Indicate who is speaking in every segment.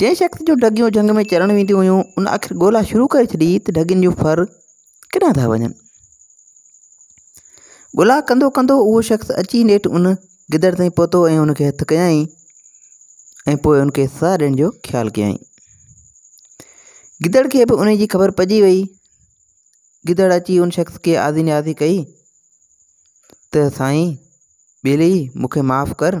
Speaker 1: جنهن شخص جون ڍڳيون جهنگ ۾ چرڻ وينديون هيون، ان آخر ڳولا شروع ڪري ڇڏي ته ڍڳين جون ڦر ڪيڏانهن ٿا وڃن. ڳولا ڪندو ڪندو اهو شخص اچي نيٺ ان گدڙ تائين پهتو ۽ ان کي هٿ ڪيائين ۽ پوء ان کي سزا ڏيڻ جو خيال ڪيائين. گدڙ کي به ان جي خبر پئجي وئي. گدڙ اچي ان شخص کي آڌي نياضي ڪئي ته سائين ٻيلي مون کي معاف ڪر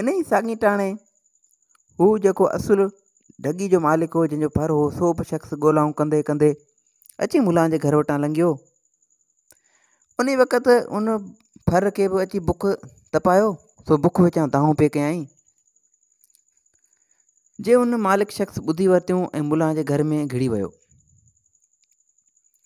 Speaker 1: ان ئي ساڳيٽاڻي هو جيڪو اصل ڍڳي جو مالڪ هو جنهن جو ڀر هو سو به شخص ڳولائون ڪندي ڪندي اچي ملان جي گهر وٽان لنگهيو ان وقت ان ڀر کي به اچي بک تپايو سو بک وچان دانهون پي ڪيائين جي ان مالڪ شخص ٻڌي ورتيون ۽ ملان جي گهر ۾ گهڙي ويو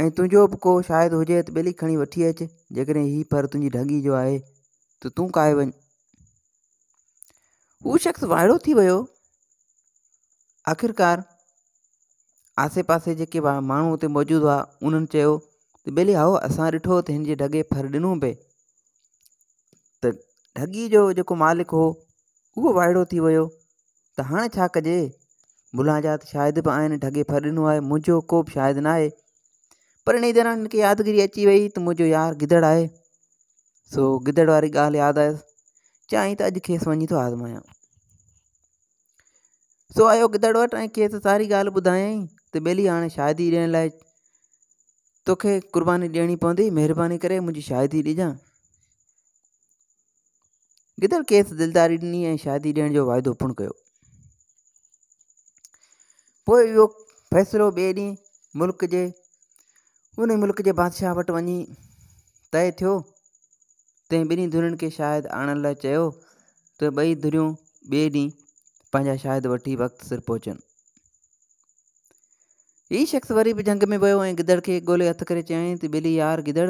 Speaker 1: ۽ تنهنجو به ڪو شايد هجي ته ٻيلي کڻي وٺي اچ جيڪڏهن هي پر تنهنجي ڍڳي جو آهي ته تون کائي وڃ هو شخص وائڙو ٿي ويو آخرڪار آسي پاسي جيڪي ماڻهو اتي موجود هئا انهن چيو ته ٻيلي هائو اسان ڏٺو ته هن جي ڍڳي ڦر ڏنو پئي ته ڍڳي جو جيڪو مالڪ هو اهو وائڙو ٿي ويو ته هاڻي ڇا ڪجي؟ ملان جا ته شاهد به آهن، ڍڳي ڦر ڏنو آهي، منهنجو ڪو به شاهد نه آهي. پر انهيء دوران هن کي يادگيري اچي ويئي ته منهنجو يار گدڙ آهي. سو گدڙ واري ڳالهه ياد آيس. چيائين ته اڄ کيس وڃي ٿو آزمايان. سو آيو گدڙ وٽ ۽ کيس ساري ڳالهه ٻڌايائين ته ٻيلي هاڻي شاهدي ڏيڻ لاء توکي قرباني ڏيڻي پوندي، مهرباني ڪري منهنجي شاهدي ڏجان. گدڙ کيس دلداري ڏني ۽ شادي ڏيڻ جو واعدو پڻ ڪيو پوء اهو فيصلو ٻئي ڏينهن ملڪ جي ان ملڪ جي بادشاهه وٽ وڃي طئي ٿيو تنهن ٻنهي ڌرين کي شاهد آڻڻ لاء چيو ته ٻئي ڌريون ٻئي ڏينهن پنهنجا شاهد وٺي وقت سر پهچن هي شخص وري به جهنگ ۾ ويو ۽ گدڙ کي ڳولي هٿ ڪري چيائين ته ٻلي يار گدڙ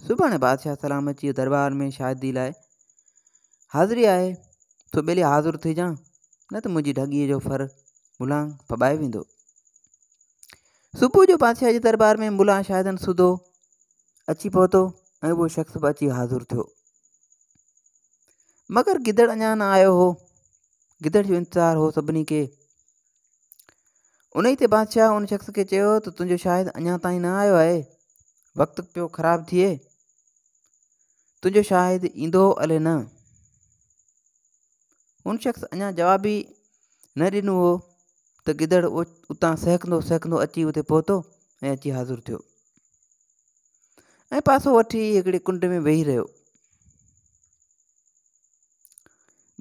Speaker 1: سڀاڻي بادشاهه سلام اچي دربار ۾ شاهدي لاء حاضري آهي سو ٻلي حاضر ٿي جان نه ته منهنجي ڍڳيء جو ڦر ملان ڦٻائي ويندو صبح جو بادشاهه جي دربار ۾ ملا شاهدن سڌو اچي پهتو ۽ اهو شخص به اچي حاضر ٿيو مگر گدڙ اڃا نه آيو هو گدڙ جو انتظار هو سڀني کي ان ئي تي بادشاهه ان شخص کي چيو ته تنهنجو شاهد اڃا تائين نه آيو آهي وقت پيو خراب ٿئي تنهنجو شاهد ايندو الي نه ان شخص اڃا جواب ئي نه ڏنو هو ته گدڙ اتان سهڪندو سهڪندو اچي اتي پهتو ۽ اچي حاضر ٿيو ۽ پاسو وٺي هڪڙي ڪنڊ ۾ ويهي رهيو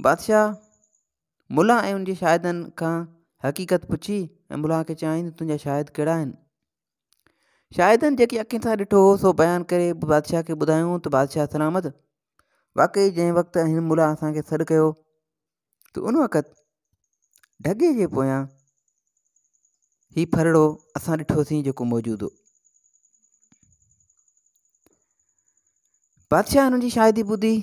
Speaker 1: بادشاهه ملا ۽ ان جي شاهدن کان حقيقت پڇي ۽ ملا کي چيائين ته تنهنجا شاهد ڪهڙا آهن شاهدن جيڪي اکين سان ڏٺو هو سو بيان ڪري بادشاهه کي ٻڌايون ته بادشاهه سلامت واقعي جنهن وقت هن ملا اسانکي سڏ ڪيو ته ان وقت ڍڳي جي پويان هي ڦرڙو اسان ڏٺوسين جيڪو موجود هو بادشاهه هنن جي شاهدي ٻڌي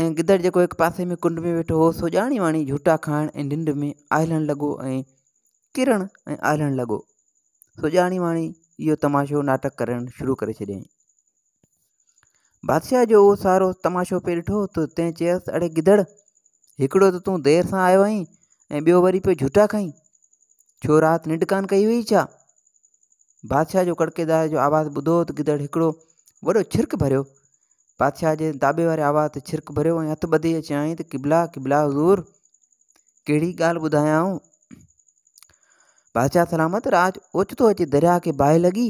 Speaker 1: ۽ گدڙ جيڪو هڪ پاسي ۾ ڪنڊ ۾ ويٺو هو سو ڄاڻي واڻي جھوٽا کائڻ ۽ ننڊ ۾ آهلڻ لڳو ۽ ڪرڻ ۽ آهلڻ لڳو سو ڄاڻي واڻي اهو تماشو ناٽڪ ڪرڻ شروع ڪري ڇڏيائين بادشاهه جو اهو سارو تماشو پئي ڏٺو ته تنهن چيس اڙي گدڙ هڪڙو ته تون دير سان آيو آهين ۽ ٻيو وري پيو جھوٽا کائين ڇو رات ننڊ ڪان ڪئي هئي ڇا بادشاهه جو ڪڙڪيدار جو آواز ٻڌو ته گدڙ هڪڙو وڏو ڇرڪ ڀريو بادشاهه جي داٻي واري آواز تي ڇرڪ ڀريو ۽ هٿ ٻڌي چيائين ته قبلا قبلا حضور ڪهڙي ڳالهه ٻڌايائون بادشاهه سلامت راج اوچتو اچي درياء کي باهه لڳي